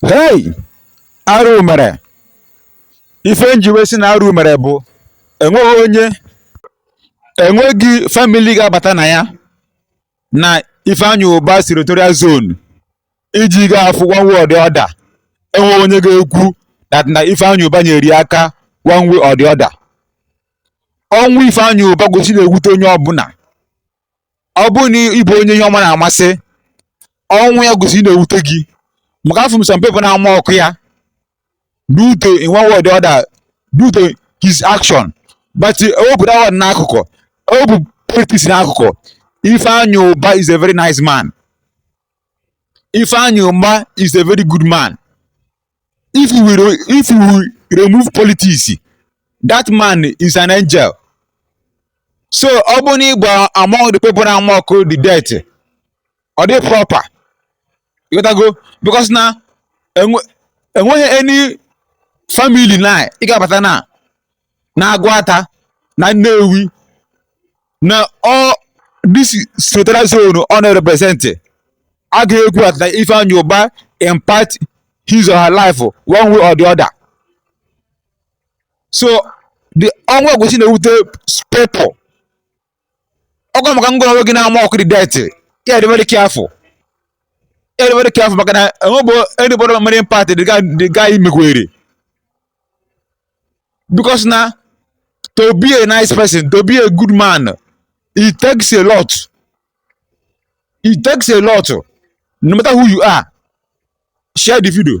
hei arụ mere ife m ji wee sị na arụ mere bụ enweghị onye enweghị famili ga-abata na ya na ifeanyị ụba senatorial zone iji ga-afụ one way or the other enweghị onye ga-ekwu that na ifeanyị ụba nyere aka one way or the other ọnwụ ifeanyị ụba kwesị na-ewute onye ọbụla ọ bụrụ na ị bụ onye ihe ọma na-amasị ọnwụ ya kwesị na-ewute gị maka afụ m some people na-amock ya due to in one way or the other due to his action but ewepụ that one n'akụkụ ewepụ politics n'akụkụ Ifeanyi Uba is a very nice man Ifeanyi Uba is a very good man if we re- if we remove politics that man is an angel so ọ bụ na ị bụ among the people na-amock the death ọ dị proper ị ghọtago because na enwe- enweghị any family na ị ga-abata na na Agụata na Nnewi na all this senatorial zone ọ na-representị a ga-ekwu at na Ifeanyi Uba impact his or her life one way or the other so the ọnwụ kwesị na-ewute people ọgwa maka ngị onwe gị na-amock the death ị ya-adị very careful ị ya-adị very careful maka na enwebe anybody mere impact the guy mekwere because na to be a nice person to be a good man it takes a lot it takes a lot no matter who you are share the video